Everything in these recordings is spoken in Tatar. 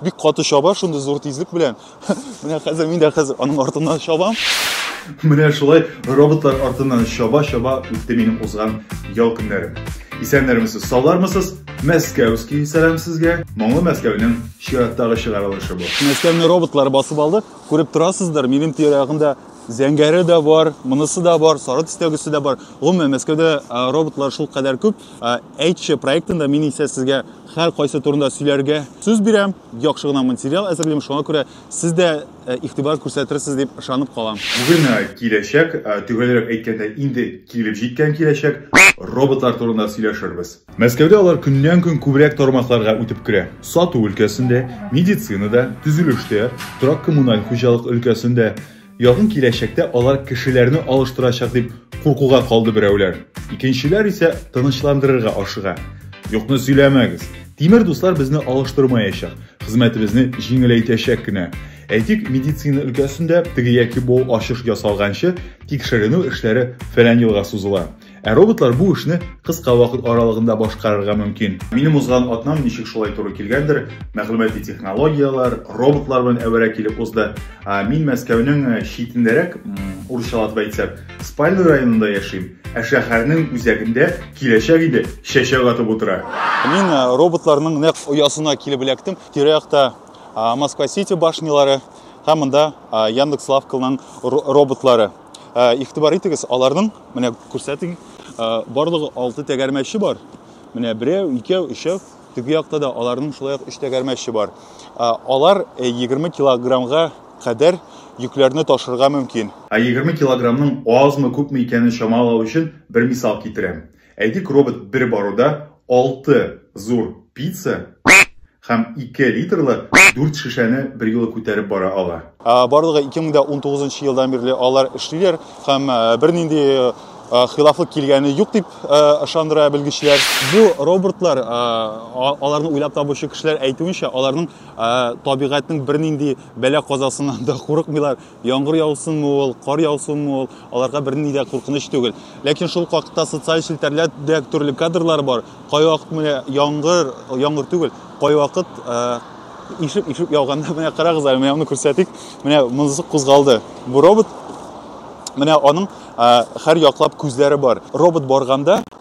Бик каты чаба, шундый зур тизлек белән. Менә хәзер мин дә хәзер аның артыннан чабам. Менә шулай роботлар артыннан чаба-чаба үтте минем узган ял көннәрем. Исәннәрмесез, саулармысыз? Мәскәүский сәлам сезгә. Моңлы Мәскәүнең чираттагы чыгарылышы бу. Мәскәүне роботлар басып алды. Күреп торасыздыр, минем тирә-ягымда зәңгәре дә бар, монысы да бар, сары төстәгесе дә бар. Гомумән, Мәскәүдә роботлар шул кадәр күп, Әйтче проектында мин исә сезгә хәл кайсы турында сөйләргә сүз бирәм. Яхшы гына материал әзерлим, шуңа күрә сез дә э, игътибар күрсәтерсез дип ышанып калам. Бүген э, киләчәк, э, төгәлрәк әйткәндә, инде килеп җиткән киләчәк роботлар турында сөйләшербез. Мәскәүдә алар көннән-көн күбрәк тармакларга үтеп керә. Сату өлкәсендә, медицинада, төзелештә, торак-коммуналь хуҗалык өлкәсендә. Якын киләчәктә алар кешеләрне алыштырачак дип куркуга калды берәүләр. Икенчеләр исә тынычландырырга ашыга. Юкны сөйләмәгез. Тимер дуслар безне алыштырмаячак, хезмәтебезне җиңеләйтәчәк кенә. Әйтик, медицина өлкәсендә теге яки бу ачыш ясалганчы тикшеренү эшләре фәлән елга сузыла. Ә роботлар бу эшне кыска вакыт аралыгында башкарырга мөмкин. Минем узган атнам ничек шулай туры килгәндер, мәгълүмати технологияләр, роботлар белән әвәрә килеп узды. Мин Мәскәүнең э, читендәрәк, урысчалатып әйтсәк, Спальный районында яшим, ә шәһәрнең үзәгендә киләчәк иде чәчәк атып утыра. Мин э, роботларның нәкъ оясына килеп эләктем. Тирә-якта Москва-Сити башнялары һәм монда Яндекс-лавканың роботлары. Ә, игътибар итегез, аларның, менә күрсәтим, барлыгы 6 тәгәрмәче бар. Менә берәү, икәү, өчәү, теге якта да аларның шулай ук 3 тәгәрмәче бар. Алар 20 килограммга кадәр йөкләрне ташырга мөмкин. Ә 20 килограммның азмы, күпме икәнен чамалау өчен бер мисал китерәм. Әйтик, робот бер баруда алты зур пицца һәм ике литрлы дүрт шешәне берьюлы күтәреп бара ала. Барлыгы 2019 елдан бирле алар эшлиләр һәм бернинди хилафлык килгәне юк дип ышандыра белгечләр. Бу роботлар, аларны уйлап табучы кешеләр әйтүенчә, аларның табигатьнең бернинди бәла-казасыннан да курыкмыйлар. Яңгыр яусынмы ул, кар яусынмы ул, аларга берни дә куркыныч түгел. Ләкин шул хакта социаль челтәрләрдә төрле кадрлар бар. Кайвакыт менә яңгыр, яңгыр түгел, кайвакыт э, ишеп ишеп яуганда менә карагыз әле, менә аны күрсәтик. Менә монысы кузгалды. Бу робот менә аның һәр яклап күзләре бар. Робот барганда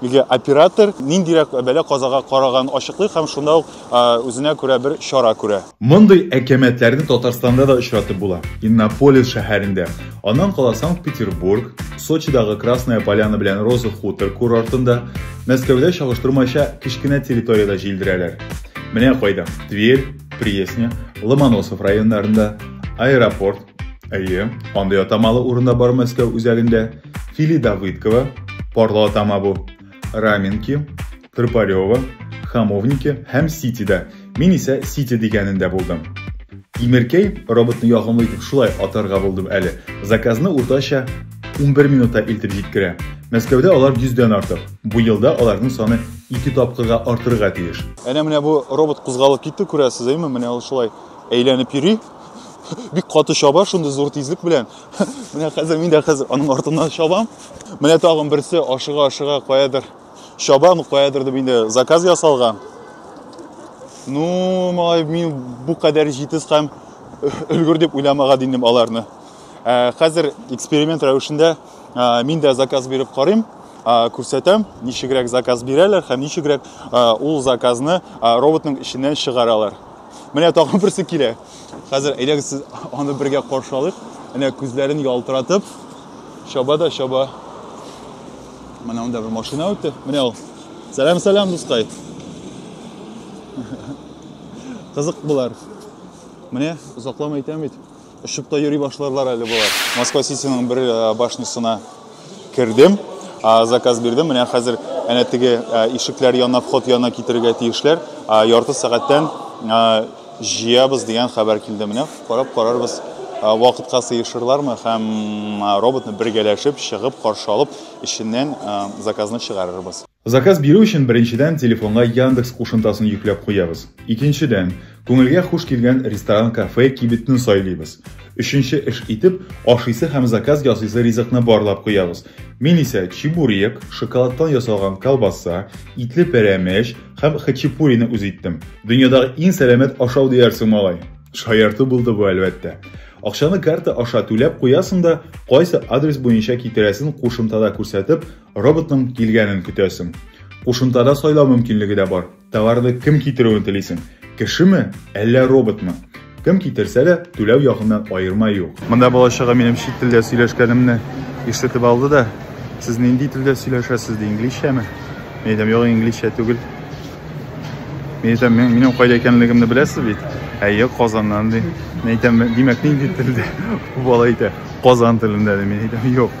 Нигә оператор ниндирәк бәла-казага караганын ачыклый һәм шунда ук үзенә күрә бер чара күрә. Мондый әкәмәтләрне Татарстанда да очратып була. Иннополис шәһәрендә, аннан кала Санкт-Петербург, Сочидагы Красная Поляна белән Роза Хутор курортында, Мәскәүдә чагыштырмача кечкенә территориядә җилдерәләр. Менә кайда, Тверь, Пресня, Ломоносов районнарында, Аэропорт, Әйе, андый атамалы урында бар Мәскәү үзәгендә. Фили Давыдкова, парлы атама бу. Раменки, Трпарева, Хамовники һәм Ситида. Мин исә Сити дигәнендә булдым. Тимеркәй роботны ягымлы итеп шулай атарга булдым әле. Заказны уртача 11 минутта илтеп җиткерә. Мәскәүдә алар 100-дән артык. Бу елда аларның саны 2 тапкырга артырга тиеш. Әнә менә бу робот кузгалып китте, күрәсез, әйме? Менә ул шулай әйләнеп йөри. бик каты чаба шундый зур тизлек белән менә хәзер мин дә хәзер аның артыннан чабам менә тагын берсе ашыга ашыга каядыр чабам каядыр дип инде заказ ясалган ну малай мин бу кадәр җитез һәм өлгер дип уйламаган идем аларны ә, хәзер эксперимент рәвешендә ә, мин дә заказ биреп карыйм күрсәтәм ничегрәк заказ бирәләр һәм ничегрәк ул заказны роботның эченнән чыгаралар Менә тагын берсе килә. Хәзер әйдәгез сез аны бергә каршы алыйк. Әнә күзләрен ялтыратып чаба да чаба. Менә анда бер машина үтте. Менә ул. Сәлам, сәлам, дускай. Кызык булар. Менә озакламый әйтәм бит. Очып та йөри башларлар әле болар. Москва Ситиның бер э, башнисына кердем, заказ бирдем. Менә хәзер әнә теге э, ишекләр янына, вход янына китерергә тиешләр. Ярты сәгатьтән э, җыябыз дигән хәбәр килде. Менә карап карарбыз, вакытка сыешырлармы һәм роботны бергәләшеп чыгып каршы алып, эченнән заказны чыгарырбыз. Заказ бирү өчен беренчедән телефонга Яндекс кушымтасын йөкләп куябыз. Икенчедән, күңелгә хуш килгән ресторан, кафе, кибетне сайлыйбыз. Өченче эш итеп, ашыйсы һәм заказ ясыйсы ризыкны барлап куябыз. Мин исә чебурек, шоколадтан ясалган колбаса, итле пәрәмәч һәм хачапурины үз иттем. Дөньядагы иң сәламәт ашау диярсең, малай. Шаярту булды бу, әлбәттә. Акчаны карта аша түләп куясың да, кайсы адрес буенча китерәсен кушымтада күрсәтеп, Роботның килгәнен көтәсең. Кушымтада сайлау мөмкинлеге дә бар. Товарды кем китерүен телисең? Кешеме, әллә роботмы? Кем китерсә дә, түләү ягыннан аерма юк. Монда балачага минем чит телдә сөйләшкәнемне ишетеп алды да, сез нинди телдә сөйләшәсез ди, инглизчәме? Мин әйтәм, юк, инглизчә түгел. Мин әйтәм, минем кайда икәнлегемне беләсез бит? Әйе, Казаннан ди. Мин әйтәм, димәк, нинди телдә? Бала әйтә, Казан телендә ди. Мин әйтәм, юк.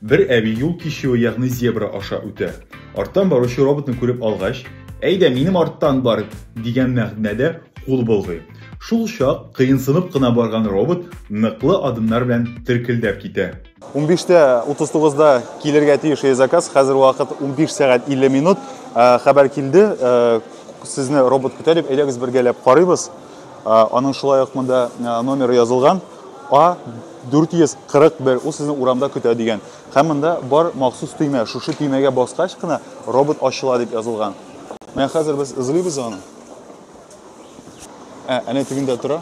Бер әби юл кичүе, ягъни зебра аша үтә. Арттан баручы роботны күреп алгач, Әйдә, минем арттан бар, дигән мәгънәдә кул болгый. Шул чак кыенсынып кына барган робот ныклы адымнар белән теркелдәп китә. 15:39-да килергә тиеш е заказ. Хәзер вакыт 15 сәгать 50 минут. Э, хәбәр килде, э, сезне робот көтә дип, әйдәгез бергәләп карыйбыз. Э, аның шулай ук монда номеры язылган. А 441 ул сезне урамда көтә дигән. Һәм монда бар махсус төймә. Шушы төймәгә баскач кына робот ачыла дип язылган. Менә хәзер без эзлибез аны. Ә, әнә тегендә тора.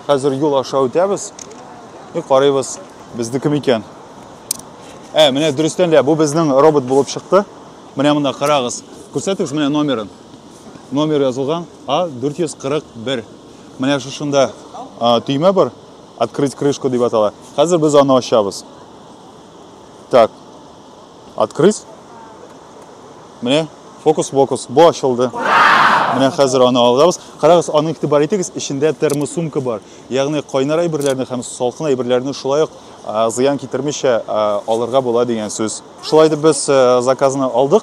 Хәзер юл аша үтәбез. И карыйбыз, безне кем икән. Ә, менә дөрестән дә бу безнең робот булып чыкты. Менә монда карагыз. Күрсәтегез менә номерын. Номер язылган А441. Менә шушында төймә бар, открыть крышку дип атала. Хәзер без аны ачабыз. Так. Открыть. Менә фокус-фокус, бу ачылды. Менә хәзер аны алабыз. Карагыз, аны игътибар итегез, эчендә термосумка бар. Ягъни кайнар әйберләрне һәм салкын әйберләрне шулай ук зыян китермичә алырга була дигән сүз. Шулай итеп без заказны алдык.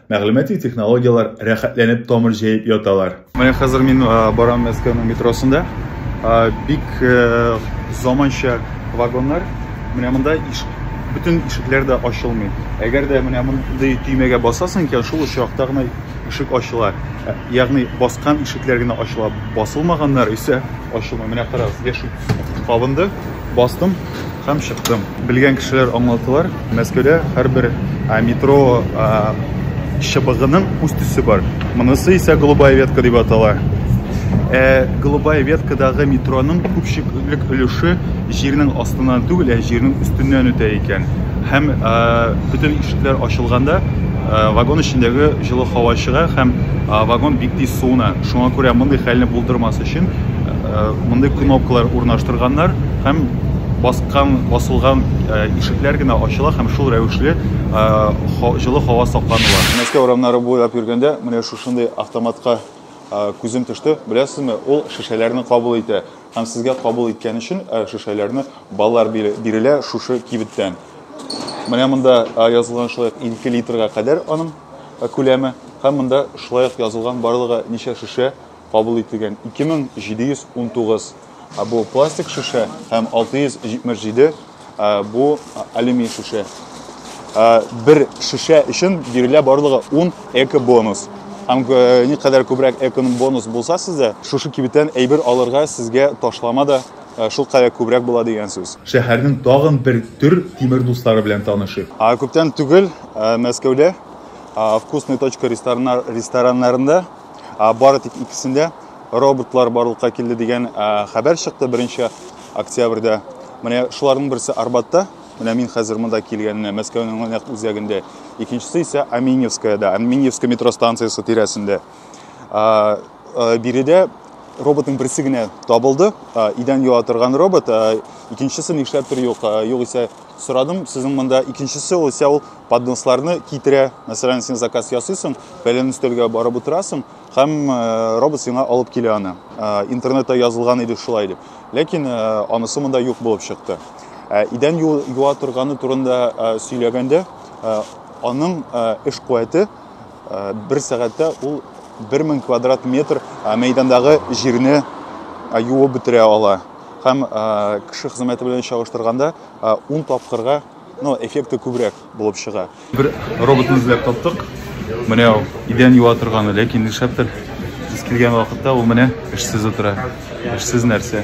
Мәгълүмати технологияләр рәхәтләнеп тамыр җәеп яталар. Менә хәзер мин барам Мәскәүнең метросында. Бик заманча вагоннар. Менә монда иш бөтен ишекләр дә ачылмый. Әгәр дә менә мондый төймәгә басасың икән, шул очракта гына ишек ачыла. Ягъни баскан ишекләр генә ачыла, басылмаганнар исә ачылмый. Менә карагыз, яшел кабынды, бастым. Һәм чыктым. Белгән кешеләр аңлатылар, Мәскәүдә һәрбер метро чыбыгының үз төсе бар. Монысы исә голубая ветка дип атала. Ә голубая веткадагы метроның күпчелек өлеше җирнең астыннан түгел, ә җирнең өстеннән үтә икән. Һәм бөтен ишекләр ачылганда вагон эчендәге җылы һава чыга һәм вагон бик тиз суына. Шуңа күрә мондый хәлне булдырмас өчен Мондый кнопкалар урнаштырганнар һәм баскан, басылган ишекләр генә ачыла һәм шул рәвешле җылы һава сакланыла. Мәскәү урамнары буйлап йөргәндә, менә шушындый автоматка күзем төште. Беләсезме, ул шешәләрне кабул итә. Һәм сезгә кабул иткән өчен шешәләрне баллар бирелә шушы кибеттән. Менә монда язылган шулай ук 2 литрга кадәр аның күләме. Һәм монда шулай ук язылган барлыгы ничә шешә кабул ителгән 2719 бу пластик шешә һәм 677 бу алюминий шешә. Бер шешә өчен бирелә барлыгы 10 эко-бонус. Һәм никадәр күбрәк эко-бонус булса сездә, шушы кибеттән әйбер алырга сезгә ташлама да шул кадәр күбрәк була дигән сүз. Шәһәрнең тагын бер төр тимер дуслары белән танышыйк. Күптән түгел Мәскәүдә Вкусная точка рестораннарында бары тик икесендә роботлар барлыкка килде дигән хәбәр чыкты беренче октябрьдә менә шуларның берсе арбатта менә мин хәзер монда килгәнне мәскәүнең нәкъ үзәгендә икенчесе исә аминевскаяда аминевский метро станциясе тирәсендә биредә роботның берсе генә табылды идән юа торган робот икенчесе нишләптер юк югыйсә сорадым сезнең монда икенчесе исә ул подносларны китерә. Мәсәлән, син заказ ясыйсың, фәлән өстәлгә барып утырасың, һәм э, робот сиңа алып килә аны. Э, интернетта язылган иде шулай дип. Ләкин э, анысы монда юк булып чыкты. Идән юа торганы турында сөйләгәндә, аның эш куәте бер сәгатьтә ул 1000 квадрат метр мәйдандагы җирне юып бетерә ала. Һәм кеше хезмәте белән чагыштырганда 10 тапкырга но эффекты күбрәк булып чыга. Бер роботны эзләп таптык. Менә ул идән юа торганы, ләкин нишләптер без килгән вакытта ул менә эшсез утыра. Эшсез нәрсә?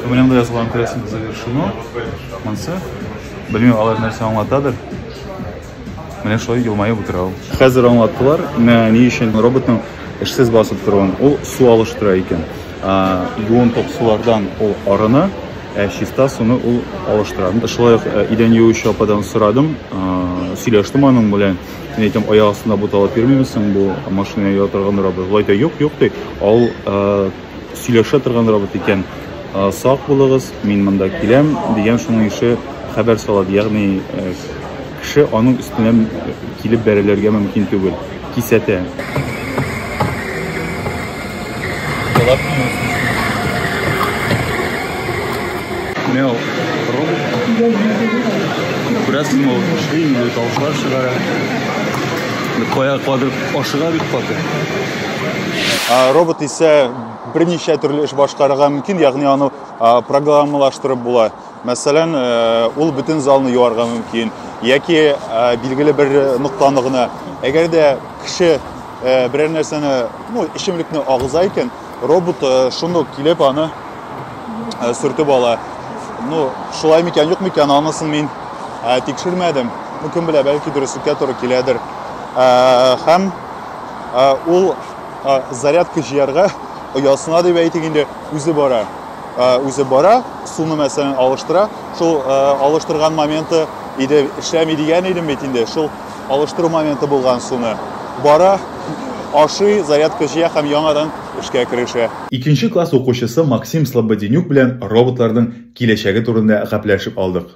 Менә монда язылган күрәсең завершено. Монсы белмим алар нәрсә аңлатадыр. Менә шулай елмаеп утыра ул. Хәзер аңлаттылар, менә ни өчен роботның эшсез басып торуын. Ул су алыштыра икән. Юын топсулардан ул арына, ә чиста суны ул алыштыра. Менә шулай ук идән юучы ападан сорадым, сөйләштем аның белән. Мин әйтәм, аяк астында буталып йөрмиме соң бу машина йөри торган робот? Болай да юк, юк ди. Ул сөйләшә торган робот икән. Сак булыгыз, мин монда киләм, дигән шуның ише хәбәр салады. Ягъни Кеше аның өстенә килеп бәрелергә мөмкин түгел. Кисәтә. Менә ул ром. Күрәсеңме, ул көчле инде, тавышлар чыгара. Кая кадыр ашыга бит каты. Робот исә берничә төрле эш башкарырга мөмкин, ягъни аны программалаштырып була. Мәсәлән, ул бөтен залны юарга мөмкин, яки билгеле бер ноктаны гына. Әгәр дә кеше берәр нәрсәне, ну, эчемлекне агыза икән, робот шуны ук килеп аны сүртеп ала. Ну, шулай микән, юк микән, анысын мин тикшермәдем. Ну, кем белә, бәлки дөреслеккә туры киләдер. Һәм ул зарядка җыярга оясына дип әйтик инде, үзе бара. үзе бара, суны мәсәлән алыштыра. Шул алыштырган моменты иде эшләми дигән идем бит инде. Шул алыштыру моменты булган суны бара, ашый, зарядка җыя һәм яңадан эшкә керешә. Икенче класс укучысы Максим Слободенюк белән роботларның киләчәге турында гәпләшеп алдык.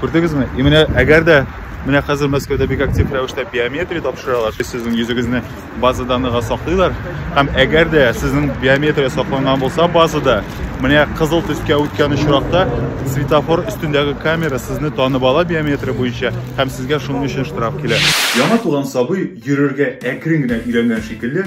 Күрдегезме? И менә әгәр дә менә хәзер Мәскәүдә бик актив рәвештә биометрия тапшыралар. Сезнең йөзегезне база данныга саклыйлар. Һәм әгәр дә сезнең биометрия сакланган булса базада, менә кызыл төскә үткән очракта светофор өстендәге камера сезне танып ала биометрия буенча һәм сезгә шуның өчен штраф килә. Яңа туган сабый йөрергә әкрен генә өйрәнгән шикелле,